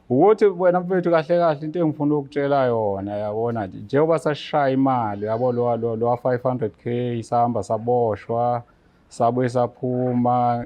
ukuthi wena mfethu kahle kahle into engifuna ukutshela yona yabona nje njengoba sashaya imali yabo lo lo lo 500k sahamba saboshwa sabuye saphuma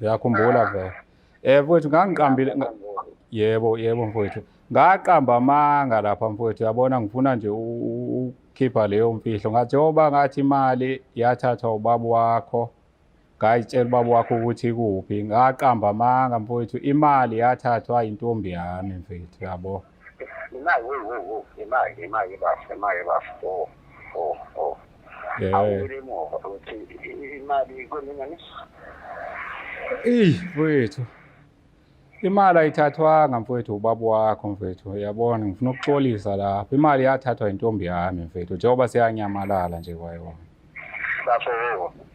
yakhumbula vele eh mfethu ngangiqambile yebo yebo mfethu ngaqamba amanga lapha mfethu yabona ngifuna nje ukukhipha leyo mfihlo ngathi yoba ngathi imali yathathwa ubaba wakho ngayitshela ubaba wakho ukuthi kuphi ngaqamba amanga mfowethu imali yathathwa intombi yami mfethu yabo imali wo wo wo imali imali bafo imali bafo oh oh oh awubile emuva ukuthi imali kweminye eyi mfowethu Imali ayithathwanga mfowethu ubaba wakho mfowethu yabona ngifuna ukuxolisa lapho imali yathathwa intombi yami mfowethu njengoba seyanyamalala nje kwayona bafowethu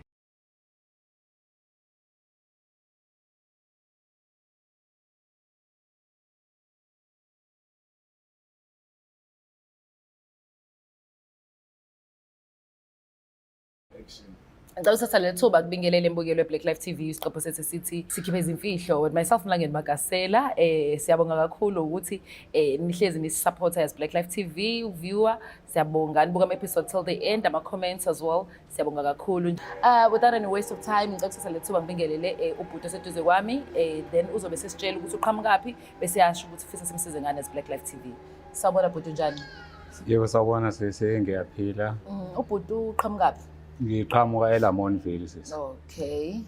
ngicela uthatha leli thuba kubingelele embukelo we-black life tv isiqopho sethu sithi sikhiphe izimfihlo with myself mlangeni magasela um siyabonga kakhulu ukuthi um nihlezi nisisapotha as black life tv viewer siyabonga nibuka ama-episode till the end ama-comments as well siyabonga kakhulu uh, without any waste of time ngicela ukuthatha leli thuba ngibingelele um ubhuti oseduze kwami um then uzobe sesitshela ukuthi uqhamukaphi bese yasho ukuthi fisa simsize ngani as black life tv Sawubona bhuti unjani? Yebo sawubona sisi ngiyaphila. Mm, ubhuti uqhamukaphi? Ngiqhamuka eLamontville sisi. Okay.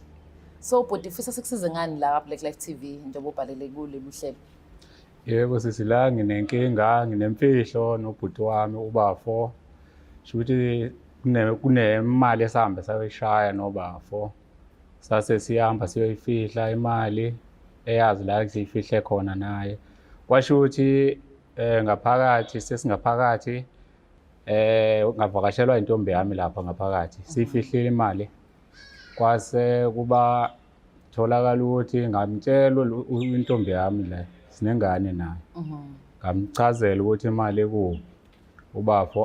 So bhuti ufisa sikusize ngani la Black Life TV njengoba ubhalele kule buhlelo? Yebo sisi la nginenkinga, nginemfihlo nobhuti wami ubafo. Shuthi kune kunemali esihambe sayoyishaya nobafo. Sase sihamba siyoyifihla imali eyazi la siyifihle khona naye. kwasho ukuthi eh ngaphakathi sesingaphakathi eh ngavakashelwa intombi yami lapha ngaphakathi sifihlile imali kwase kuba tholakala ukuthi ngamtshela intombi yami la sinengane nayo mhm. ngamchazela ukuthi imali ekubi ubafo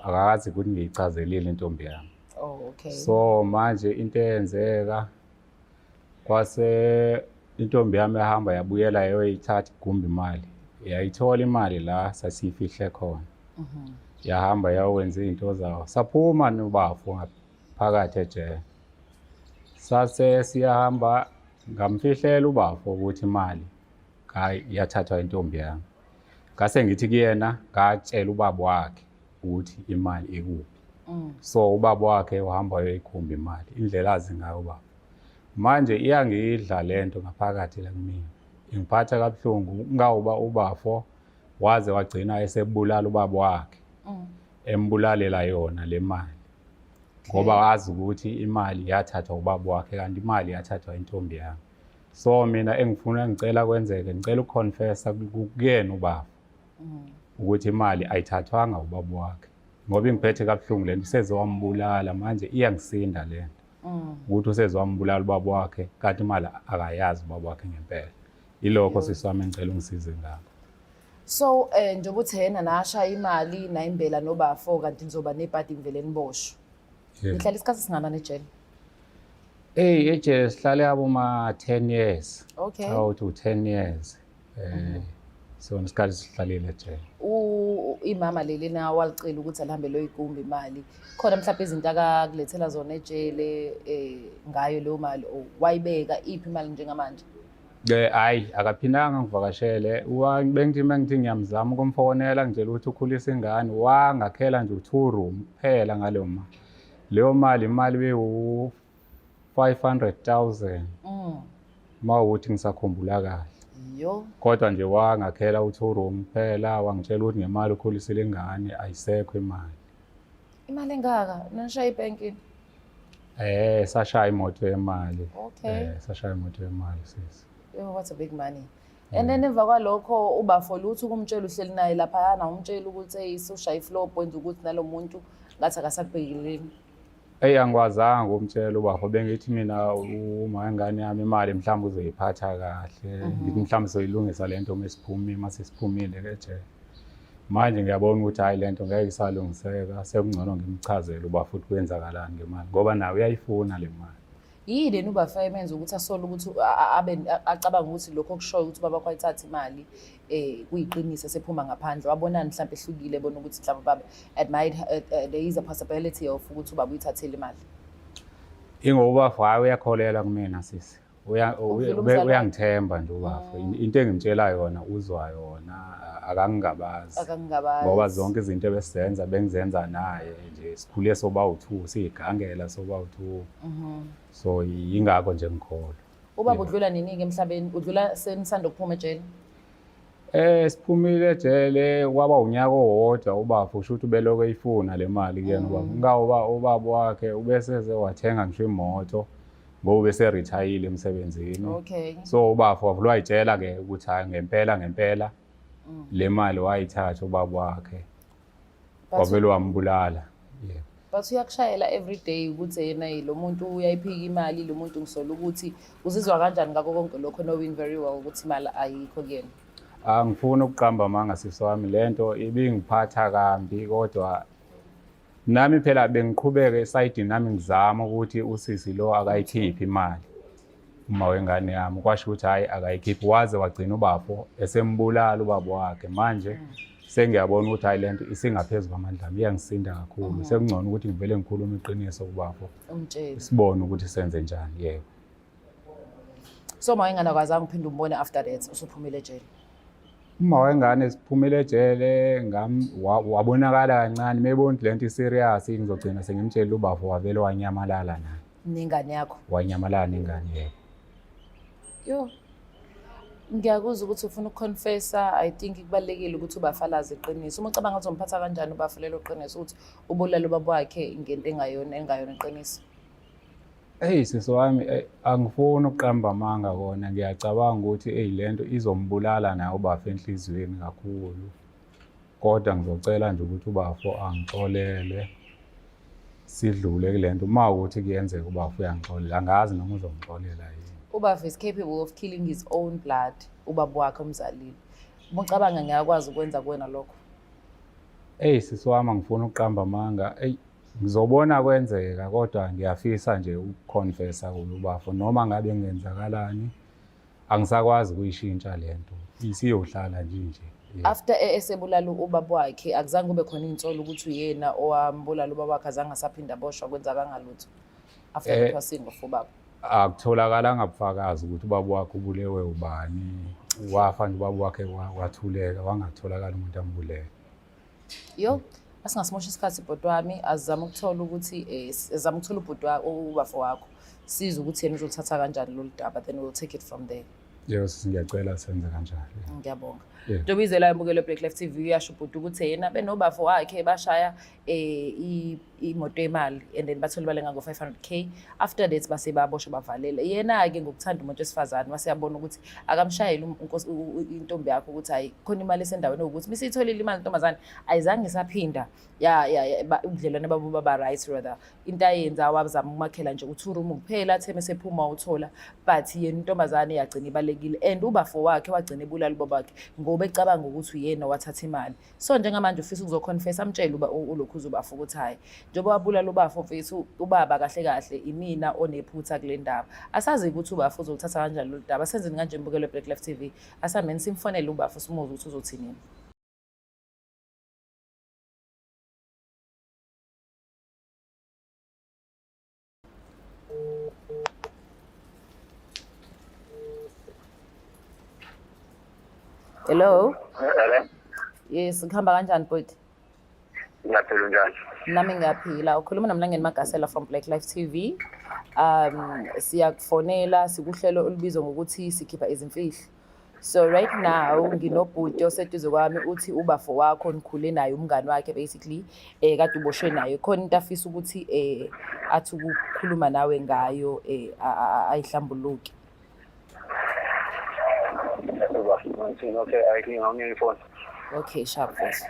akakazi ukuthi ngiyichazelile intombi yami oh okay so manje into eyenzeka kwase intombi yami ehamba yabuyela yoyithatha igumbi imali yayithola imali la sasiyifihle khona mhm. yahamba yawenza izinto zawo saphuma nobafo ngaphakathi ejele sase siyahamba ngamfihlela ubafo ukuthi imali yathathwa intombi yami ngase ngithi kuyena ngatshela ubaba wakhe ukuthi imali ikuphi mm. so ubaba wakhe uhamba uyoyikhumba imali indlela azi ngayo ubaba manje iyangidla le nto ngaphakathi la kumina ingiphatha kabuhlungu ngawuba ubafo waze wagcina esebulala ubaba wakhe mm. embulalela yona le mali ngoba wazi ukuthi imali yathathwa ubaba wakhe kanti imali yathathwa intombi yami so mina engifuna ngicela kwenzeke ngicela ukuconfessa kuyena ubaba mm. ukuthi imali ayithathwanga ubaba wakhe ngoba ingiphethe kabuhlungu lento useze wambulala manje iyangisinda lento mm. ukuthi useze wambulala ubaba wakhe kanti imali akayazi ubaba wakhe ngempela ilokho sisami engicela ungisize ngakho so eh njengoba uthi yena nashaya imali nayimbela nobafo kanti nizoba nebhadi ngivele niboshwe nihlala isikhathi singanani ejele Hey, ejele sihlale aboma 10 years. Okay. Awu to 10 years. eh so ngesikhathi sihlalile ejele u imama leli na walicela ukuthi alihambe loyikumba imali khona mhlawumbe izinto akakulethela zona ejele eh ngayo leyo mali o wayibeka iphi imali njengamanje Eh hayi akaphindanga ngivakashele wa bengithi mengithi ngiyamzama ukumfonela ngitshela ukuthi ukhulisa ingane wangakhela nje u2 room kuphela ngaleyo mali leyo mali imali bewu 500,000 Mm. uma ukuthi ngisakhumbula kahle Yo. kodwa nje wangakhela u-two room kuphela wangitshela ukuthi ngemali ukhulisile ingane ayisekho imali Imali engaka? Nishaya ibanking. eh sashaya imoto yemali Okay. eh sashaya imoto yemali sisi Yo, what a big money. And then emva kwalokho ubafo lutho kumtshela uhleli naye lapha yana umtshela ukuthi hey sushaya iflow point ukuthi nalomuntu ngathi akasakubhekeleni. Eyi angikwazanga ukumtshela ubafo bengithi mina uma ingane yami imali mhlawumbe uzoyiphatha kahle mhm. ngithi mhlawumbe soyilungisa le nto uma siphumile uma sesiphumile ke jele manje ngiyabona ukuthi hhayi le nto ngeke isalungiseka sekungcono ngimchazele uba futhi kwenzakalani ngemali ngoba naye uyayifuna le mali Yini leni uBafana emenza ukuthi asole ukuthi abe acabanga ukuthi lokho okushoyo ukuthi baba kwayithatha imali eh kuyiqiniso sephuma ngaphandle wabonani mhlawumbe ehlukile bona ukuthi mhlawumbe baba admired eh, eh, there is a possibility of ukuthi ubaba uyithathele imali. Ingoba fa uyakholela kumina sisi. uyangithemba nje ubafo mm. into engimtshela yona uzwa yona akangingabazi ngoba zonke izinto ebesizenza bengizenza naye nje sikhule soba uthu siyigangela soba uthu Mhm. so yingakho nje ngikholwa ubaba udlula nini-ke emhlabeni udlula senisanda ukuphuma ejele Eh siphumile ejele kwaba unyaka owodwa ubaba usho ukuthi ubeloko eyifuna le mali kuyena ubaba. Mm. Ngawuba ubaba wakhe ubeseze wathenga ngisho imoto ngoba bese retire emsebenzini. Okay. So ubaba wavulwa itshela ke ukuthi hayi ngempela ngempela mm. le mali wayithatha ubaba wakhe. wavele wambulala yeah. but uyakushayela every day ukuthi yena lo muntu uyayiphika imali lo muntu ngisola ukuthi uzizwa kanjani ngako konke lokho knowing very well ukuthi imali ayikho kuyena angifuni ah, ukuqamba amanga sisi wami le nto ibingiphatha kambi kodwa nami phela bengiqhubeke esayidini nami ngizama ukuthi usisi lo akayikhiphi imali uma wengane yami kwasho ukuthi hhayi akayikhiphi waze wagcina ubafo esembulala ubaba wakhe manje mm. sengiyabona ukuthi hhayi le nto isingaphezu kwamandla ami iyangisinda kakhulu mm. sekungcono ukuthi ngivele ngikhulume iqiniso kubafo sibone ukuthi senze njani yebo so uma wengane akwazanga uphinde umbone after that usuphumile ejele uma wengane siphumile ejele wabonakala kancane mebona ukuthi le nto iserious ngizogcina sengimtshelile ubafo wavele wanyamalala naye nengane yakho wanyamalala nengane yebo yo ngiyakuzwa ukuthi ufuna ukuconfessa i think kubalulekile ukuthi ubafalaze iqiniso uma ucabanga ukuthi umphatha kanjani ubafalela uqiniso ukuthi ubulala ubaba wakhe ngento engayona engayona iqiniso Eyi sisi wami eh, angifuni ukuqamba amanga kona ngiyacabanga ukuthi eyi lento izombulala naye ubaba enhliziyweni kakhulu. kodwa ngizocela nje ukuthi ubafo angixolele sidlule kule nto uma ukuthi kuyenzeka ubafo uyangixolela angazi noma uzongixolela yini ubafo is capable of killing his own blood ubaba wakhe omzalile umucabanga ngiyakwazi ukwenza kuwena lokho eyi sisi wami angifuni ukuqamba amanga eyi ngizobona kwenzeka kodwa ngiyafisa nje ukuconfessa kulo ubafo noma ngabe ngenzakalani angisakwazi ukuyishintsha le nto isiyohlala nje nje Yeah. after e- esebulala ubaba wakhe akuzange kube khona insolo ukuthi uyena owambulala ubaba wakhe azange asaphinda aboshwa kwenza kangalutho after Eh, kuthiwa singo fubaba akutholakalanga bufakazi ukuthi ubaba wakhe ubulewe ubani wafa nje ubaba wakhe wa- wathuleka wangatholakala umuntu ambulele yo asingasimosha isikhathi bhuti wami azizame ukuthola ukuthi eh, azizame ukuthola ubhuti ubafo wakho size ukuthi yena uzoluthatha kanjani lolu daba then we'll take it from there yebo sisi ngiyacela senze kanjalo ngiyabonga ntoba izela yamukelo black life tv uyasho ubhuti ukuthi yena benobafo wakhe bashaya um imoto yemali and then bathole imali engango-500k after that base baboshwa bavalele yena-ke ngokuthanda umuntu wesifazane wase yabona ukuthi akamshayeli um, intombi yakho ukuthi hayi khona imali esendaweni ukuthi uma isiyitholile imali ntombazane ayizange isaphinda ubudlelwane babo baba right rather into ayenza wazama ukumakhela nje uthi urumu kuphela athe mesephuma uthola but yena intombazane yagcina ibalekile and ubafo wakhe wagcina ebulala ubaba wakhe ngoba ecabanga ukuthi uyena wathatha imali so njengamanje ufisa ukuzoconfessa amtshele uba ulokhu uzobafa ukuthi hhayi njengoba wabulala ubafo mfethu ubaba kahle kahle imina onephutha kule ndaba asazi ukuthi ubafo uzolithatha kanjani lolu daba senzeni kanje mbukelo black life t v asameni simfonele ubafo simuze ukuthi uzothinini Hello. Hello. Yes, ngihamba kanjani bhuti? Ngiyaphila njani? Nami ngiyaphila. Ukhuluma noMlangeni Magasela from Black Life TV. Um siyakufonela sikuhlelo olubizwa ngokuthi sikhipha izimfihlo. so right now nginobhuti oseduze kwami uthi ubafo wakho nikhule naye umngani wakhe basically eh kade uboshwe naye khona into afisa ukuthi eh athi ukukhuluma nawe ngayo eh ayihlambuluki okay i think i'm your phone okay sharp voice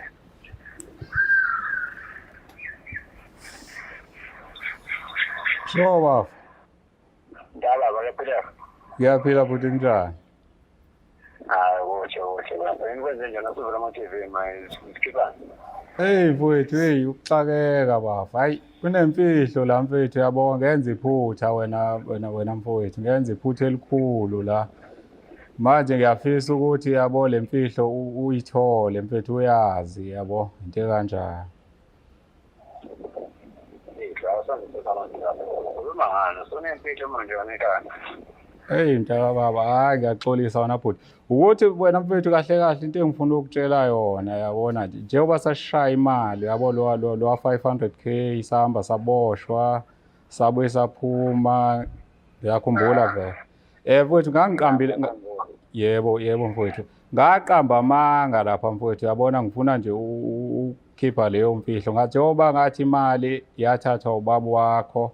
Sure, Ndala bayaphila. Ngiyaphila futhi njani? Hayi kuhle kuhle lapha. Yini kwenze njani asivula ama TV manje sikhipha. Hey mfowethu hey ukuxakeka bafa. Hayi kunemfihlo la mfowethu yabo ngenza iphutha wena wena wena mfowethu ngenza iphutha elikhulu la. Manje ngiyafisa ukuthi yabo lemfihlo uyithole mfethu uyazi yabo into kanjani. Hey mntaka baba hayi ngiyaxolisa wena bhuti ukuthi wena mfethu kahle kahle into engifuna ukutshela yona yabona nje njengoba sashaya imali yabo lo lo lo 500k sahamba saboshwa sabuye saphuma ngiyakhumbula vele eh mfethu ngangiqambile yebo yebo mfethu ngaqamba amanga lapha mfethu yabona ngifuna nje khipha leyo mfihlo ngathi yoba ngathi imali yathathwa ubaba wakho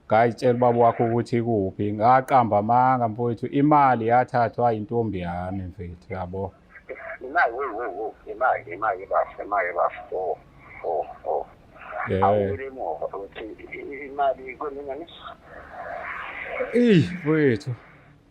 ngayitshela ubaba wakho ukuthi kuphi ngaqamba amanga mfowethu imali yathathwa intombi yami mfethu yabo imali wo wo wo imali imali bafo imali bafo oh oh oh awubile emuva ukuthi imali kweminye Eyi mfowethu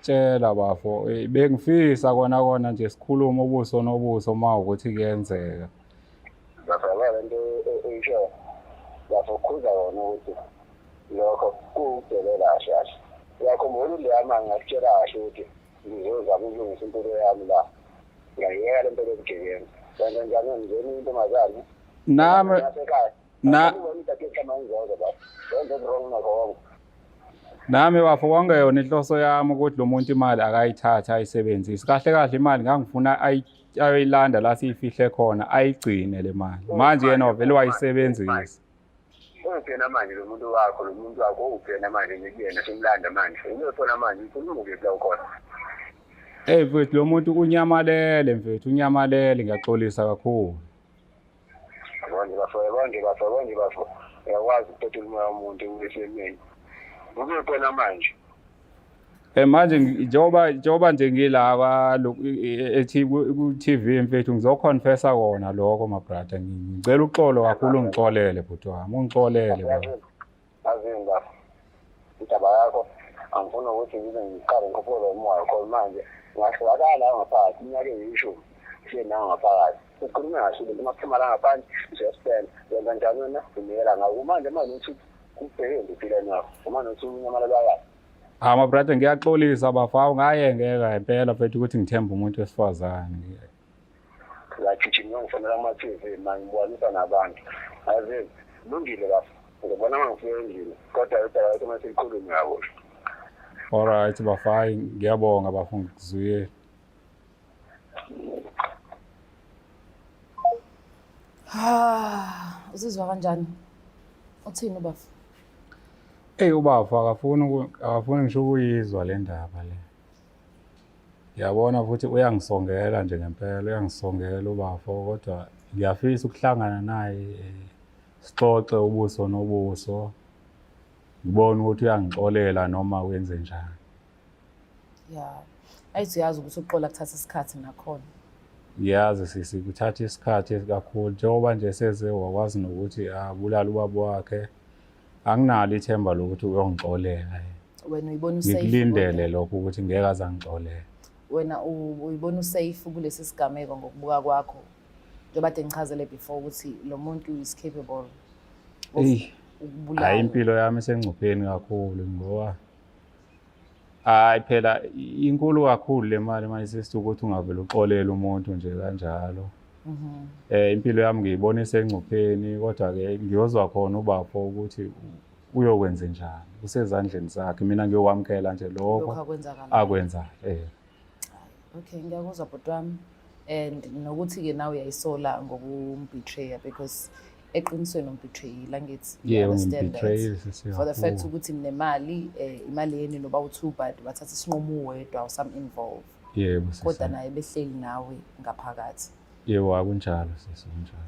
Tshela bafo, eh, bengifisa kona kona nje sikhulume ubuso nobuso uma ukuthi kuyenzeka. Ngiyabona le nto oyishoyo. Bafo khuza wona ukuthi lokho kuwudelela kahle kahle. Uyakhumbula uLiyama ngakutshela kahle ukuthi ngizozama ukulungisa impilo yami la. Ngiyayeka le nto yobugebengu. Kanti njani ngizeni intombazane? Nami Nasekhaya. na nami bafo konke yona inhloso yami ukuthi lo muntu imali akayithathe ayisebenzise kahle kahle imali ngangifuna ayoyilanda la siyifihle khona ayigcine le mali manje yena wavele wayisebenzisa ungena manje lo muntu wakho lo muntu wakho ungena manje ngikuyena simlanda manje uyothola manje ukhuluma kephi lawo khona Hey mfethu lo muntu unyamalele mfethu unyamalele ngiyaxolisa kakhulu Yabona bafo, yabona bafo, yabona bafo. Uyakwazi ukuthetha umoya womuntu esemeni. Kube khona manje. Eh manje njengoba njengoba nje ngila kwa ethi ku TV mfethu ngizoconfessa kona lokho my brother ngicela uxolo kakhulu ngixolele bhuti wami ungixolele baba. azinda indaba yakho angifuni ukuthi ngibe ngiqale ngikhuphule umoya khona manje ngahlukakala ngaphakathi iminyaka eyishumi siye nawo ngaphakathi ukhulume ngasho ukuthi uma kuphuma la ngaphandle uzospenda yenza njani wena unikela ngawo kumanje manje uthi kubheke ngipile nawo uma nothi unyamalelwa kahle hawu mabrada ngiyaxolisa bafawu ngayengeka impela mfethu ukuthi ngithembe umuntu wesifazane ngagijima ngifonela kuma-tv mangibonisa nabantu aze lungile bafo ngibona uma ngifika endlini kodwa udaba lwethu uma selikhulume yabo olright bafo hayi ngiyabonga bafo ngikuzuyele ha uzizwa kanjani uthini ubafo eyi ubafo akafuni akafuni ngisho ukuyizwa le ndaba le Yabona futhi uyangisongela nje ngempela uyangisongela ubafo kodwa ngiyafisa ukuhlangana naye eh, sixoxe ubuso nobuso ngibone ukuthi uyangixolela noma wenze njani ya ayithi uyazi ukuthi ukuxola kuthatha isikhathi nakhona ngiyazi sisi kuthatha isikhathi kakhulu njengoba nje seze wakwazi nokuthi abulale ubaba wakhe anginalo ithemba lokuthi uyongixolela wena uyibona usafe ngikulindele lokho ukuthi ngeke aze angixolela wena uyibona usafe kulesi sigameko ngokubuka kwakho njengoba de ngichazele before ukuthi lo muntu is capable of ukubulala impilo yami esengcupheni kakhulu ngoba hayi phela inkulu kakhulu le mali manje sesithi ukuthi ungavele uxolele umuntu nje kanjalo um impilo yami ngiyibona isengcupheni kodwa-ke ngiyozwa khona ubafo ukuthi uyokwenze njani usezandleni zakhe mina ngiyokwamukela nje lokho akwenzayo um okay ngiyakuzwa bhuti wami and nokuthi-ke nawe uyayisola ngokumbetreya because eqinisweni umbethreyile angithi yeah, understand that for the fact ukuthi ninemali eh, imali yeni noba u-two but wathatha isinqumo uwedwa usam involve yebo yeah, kodwa naye behleli nawe ngaphakathi yebo yeah, akunjalo sisi kunjalo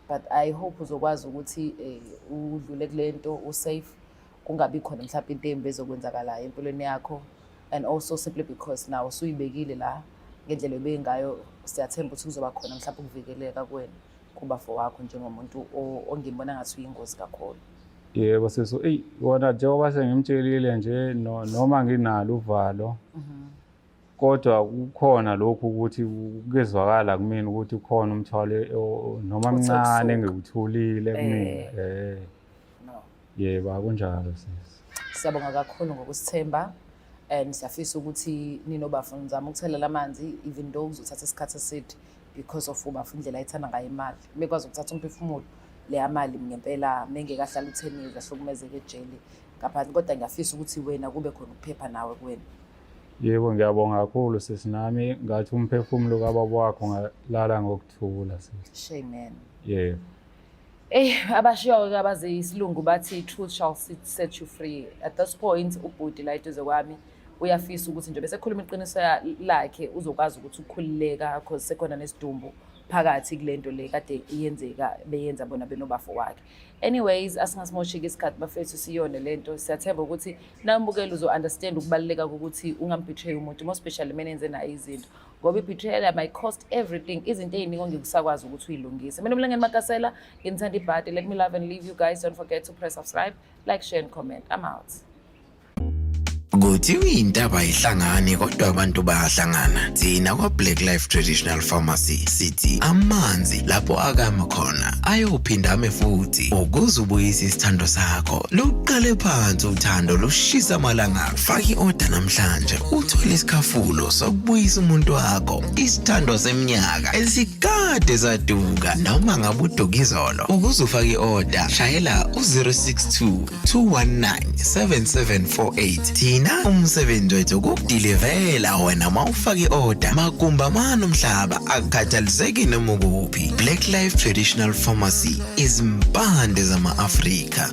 but i hope uzokwazi ukuthi eh, udlule kule nto usafe kungabi khona mhlawumbe into embi ezokwenzakalayo empilweni yakho and also simply because nawe usuyibekile la ngendlela ebe ngayo siyathemba ukuthi kuzoba khona mhlawumbe ukuvikeleka kwena kuba for wakho njengomuntu ongimbona ngathi uyingozi kakhulu yebo seso eyi wona njengoba sengimtshelile nje noma nginalo uvalo mhm. kodwa kukhona lokhu ukuthi kezwakala kumina ukuthi ukhona umthwalo noma mncane engikuthulile kumina eh, eh. Yebo akunjalo sisi. Siyabonga kakhulu ngokusithemba and siyafisa ukuthi ninobafo nizama ukuthelela amanzi even though kuzothatha isikhathi eside because of ubafo indlela ayithanda ngayo imali. Bekwazi ukuthatha umphefumulo leya mali ngempela mengekahlala utheni zahlukumezeke ejele ngaphansi kodwa ngiyafisa ukuthi wena kube khona ukuphepha nawe kuwena. Yebo ngiyabonga kakhulu sisi nami ngathi umphefumulo kababa wakho ngalala ngokuthula sisi. Shame man. Yebo. Eyi abashiyoke abaze isilungu bathi truth shall set you free at this point ubhuti la eduze kwami uyafisa ukuthi nje bese khuluma iqiniso lakhe uzokwazi ukuthi ukhululeka because sekhona nesidumbu phakathi kule nto le kade iyenzeka beyenza bona benobafo wakhe anyways asingasimosheki isikhathi bafethu siyone le nto siyathemba ukuthi nambukeli uzo-understand ukubaluleka kokuthi ungambetray umuntu more specially mene enze naye izinto ngoba i-betrayal might cost everything izinto ey'ningi ongekusakwazi ukuthi uyilungise mina umlangeni makasela nginithanda ibhadi let me love and leave you guys don't forget to press subscribe like share and comment i'm out kuthiwa intaba ayihlangani kodwa abantu bayahlangana thina kwa-black life traditional pharmacy sithi amanzi lapho akama khona ayophinda ame futhi ukuze ubuyise isithando sakho luqale phansi uthando lushisa amalanga Faka i-oda namhlanje uthole isikhafulo sokubuyisa umuntu wakho isithandwa seminyaka esikade saduka noma ngabe uduka izolo ukuze ufake i-oda shayela u-062 219 7748 thina umsebenzi wethu kukudilivela wena ma ufake i-oda makumba mani umhlaba akukhathaliseki noma ukuphi black life traditional pharmacy izimpande zama-afrika